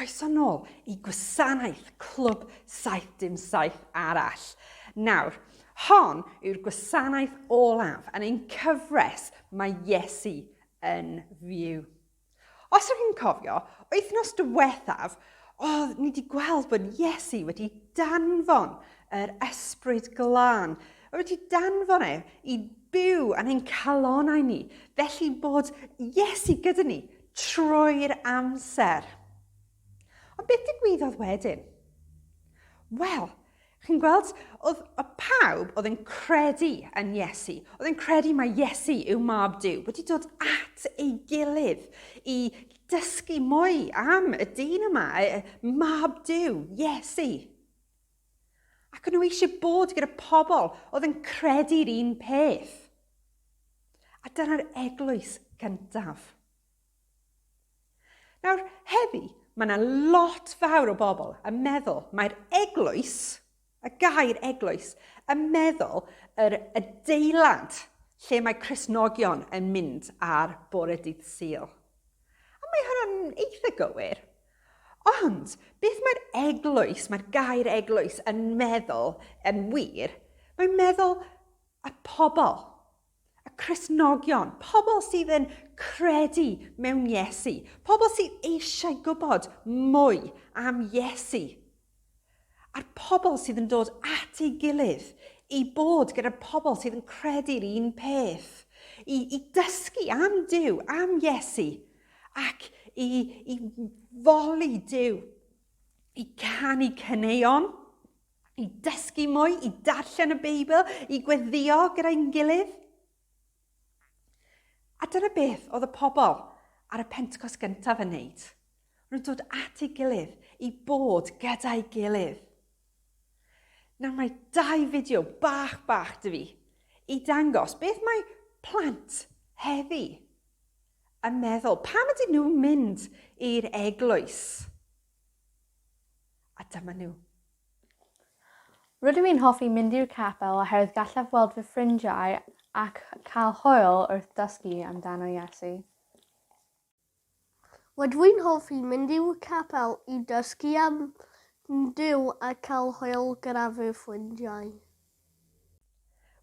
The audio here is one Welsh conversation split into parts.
croeso nôl i gwasanaeth Clwb 77 arall. Nawr, hon yw'r gwasanaeth olaf yn ein cyfres mae Iesu yn fyw. Os ydych chi'n cofio, wythnos diwethaf, oedd ni wedi gweld bod Iesu wedi danfon yr ysbryd glân. Oedd wedi danfon e i byw yn ein calonau ni, felly bod Iesu gyda ni trwy'r amser. Ond beth digwyddodd wedyn? Wel, chi'n gweld, oedd y pawb oedd yn credu yn Iesu, oedd yn credu mae Iesu yw mab Dyw, wedi dod at ei gilydd i dysgu mwy am y dyn yma, mab Dyw, Iesu. Ac nhw eisiau bod gyda pobl oedd yn credu'r un peth. A dyna'r eglwys gyntaf. Nawr, heddi, mae yna lot fawr o bobl yn meddwl mae'r eglwys, y gair eglwys, yn meddwl yr adeilad lle mae Cristnogion yn mynd ar bore dydd Sul. A mae hwnna'n eitha gywir. Ond beth mae'r eglwys, mae'r gair eglwys yn meddwl yn wir, mae'n meddwl y pobl. A Christnogion, pobl sydd yn credu mewn Iesu, pobl sydd eisiau gwybod mwy am Iesu, a'r pobl sydd yn dod at ei gilydd i bod gyda'r pobl sydd yn credu'r un peth, i, i dysgu am Dyw, am Iesu, ac i, i foli Dyw, i canu cyneuon, i dysgu mwy, i darllen y Beibl, i gweddio gyda'n gilydd. A dyna beth oedd y pobl ar y pentcos gyntaf yn wneud. Rwy'n dod at ei gilydd i bod gyda'i gilydd. Nawr mae dau fideo bach bach dy fi i dangos beth mae plant heddi yn meddwl. Pam ydyn nhw'n mynd i'r eglwys? A dyma nhw. Rydw i'n hoffi mynd i'r capel oherwydd gallaf weld fy ffrindiau ac cael hwyl wrth dysgu amdano Iesu. Rydw i'n hoffi mynd i'w capel i dysgu am Duw a cael hwyl gyda fy ffrindiau.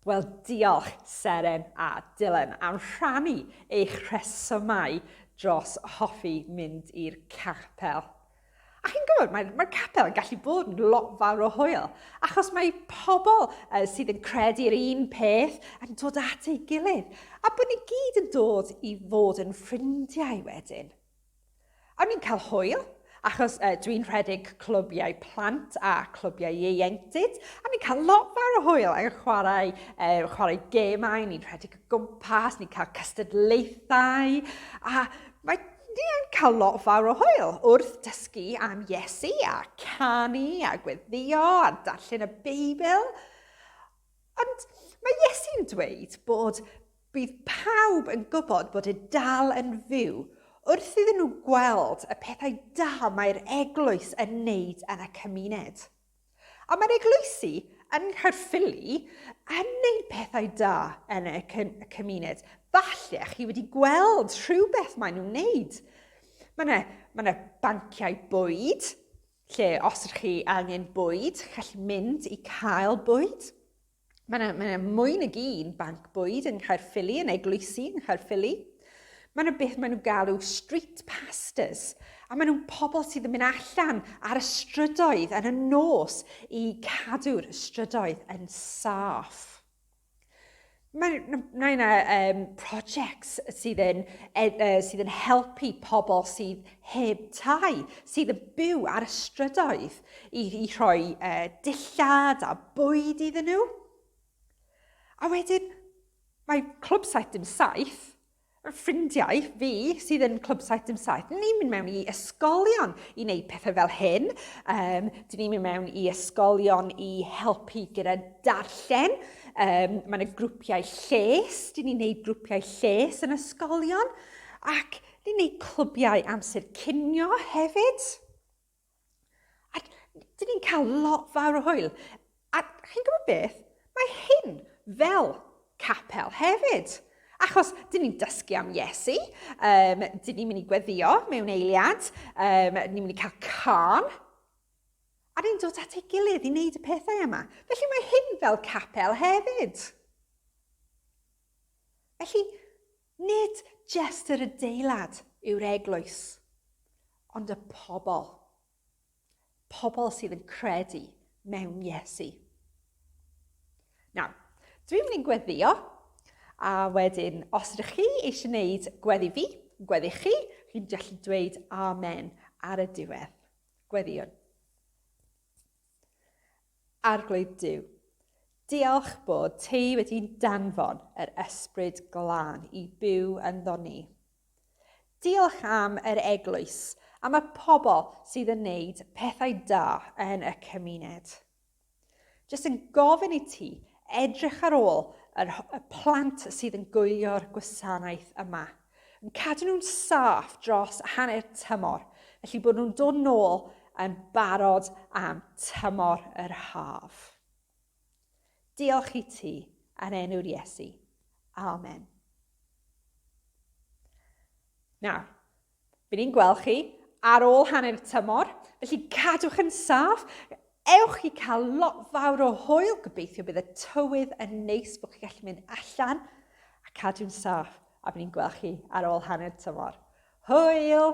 Wel, diolch, Seren a Dylan, am rhannu eich rhesymau dros hoffi mynd i'r capel. A chi'n gwybod, mae'r mae capel yn gallu bod yn lot fawr o hwyl, achos mae pobl uh, sydd yn credu'r un peth yn dod at ei gilydd, a bod ni gyd yn dod i fod yn ffrindiau wedyn. Awn ni'n cael hwyl, achos yy dwi'n rhedeg clybiau plant a clybiau ieuenctid, a ni'n cael lot fawr o hwyl ac yn chwarae, e, chwarae gemau, ni'n rhedeg o gwmpas, ni'n cael cystadlaethau, a mae ni'n cael lot fawr o hwyl wrth dysgu am Iesu a canu a gweddio a darllen y Beibl. Ond mae Iesu'n dweud bod Bydd pawb yn gwybod bod e dal yn fyw wrth iddyn nhw gweld y pethau da mae'r eglwys yn wneud yn y cymuned. A mae'r eglwysi yng Nghaerffili yn wneud pethau da yn y cymuned. Falle chi wedi gweld rhywbeth maen nhw'n wneud. Mae yna ma ne banciau bwyd, lle os ydych chi angen bwyd, chi'n gallu mynd i cael bwyd. Mae yna, mae yna mwy nag un banc bwyd yng Nghaerffili, yn eglwysi yng Nghaerffili. Mae yna beth maen nhw'n galw street pastors, a maen nhw'n pobl sydd yn mynd allan ar y strydoedd yn y nos i cadw'r strydoedd yn saff. Mae yna um, projects sydd yn, uh, sydd yn helpu pobl sydd heb tai, sydd yn byw ar y strydoedd. i, i rhoi e, dillad a bwyd iddyn nhw. A wedyn, mae Clwb 77, ffrindiau fi sydd yn Clwb 77, ni'n mynd mewn i ysgolion i wneud pethau fel hyn. Um, dyn ni'n mynd mewn i ysgolion i helpu gyda darllen. Um, mae yna grwpiau lles, dyn ni'n gwneud grwpiau lles yn ysgolion. Ac ni'n gwneud clybiau amser cinio hefyd. A dyn ni'n cael lot fawr o hwyl. A chi'n gwybod beth? Mae hyn fel capel hefyd. Achos dyn ni'n dysgu am Iesu, um, dyn ni'n mynd i gweddio mewn eiliad, um, dyn ni'n mynd i cael can, a ni'n dod at ei gilydd i wneud y pethau yma. Felly mae hyn fel capel hefyd. Felly, Nid jest yr adeilad yw'r eglwys, ond y pobl. Pobl sydd yn credu mewn Iesu. Nawr, dwi'n mynd i'n gweddio, a wedyn, os ydych chi eisiau gwneud gweddi fi, gweddi chi, chi'n gallu dweud amen ar y diwedd. Gweddiwn. Arglwydd Duw, diolch bod Ti wedi danfon yr Ysbryd Glân i byw ynddo ni. Diolch am yr Eglwys, am y pobl sydd yn neud pethau da yn y cymuned. Jyst yn gofyn i Ti edrych ar ôl yr y plant sydd yn gwylio'r gwasanaeth yma. yn cadw nhw'n saff dros hanner tymor, felly bod nhw'n dod nôl yn barod am tymor yr haf. Diolch i ti yn enw'r Iesu. Amen. Nawr, Bydd ni'n gweld chi ar ôl hanner y tymor, felly cadwch yn saff, Ewch i cael lot fawr o hwyl, gobeithio bydd y tywydd yn neis bod chi'n gallu mynd allan a cadw'n saff a bydd ni'n gweld chi ar ôl hanner tymor. Hwyl!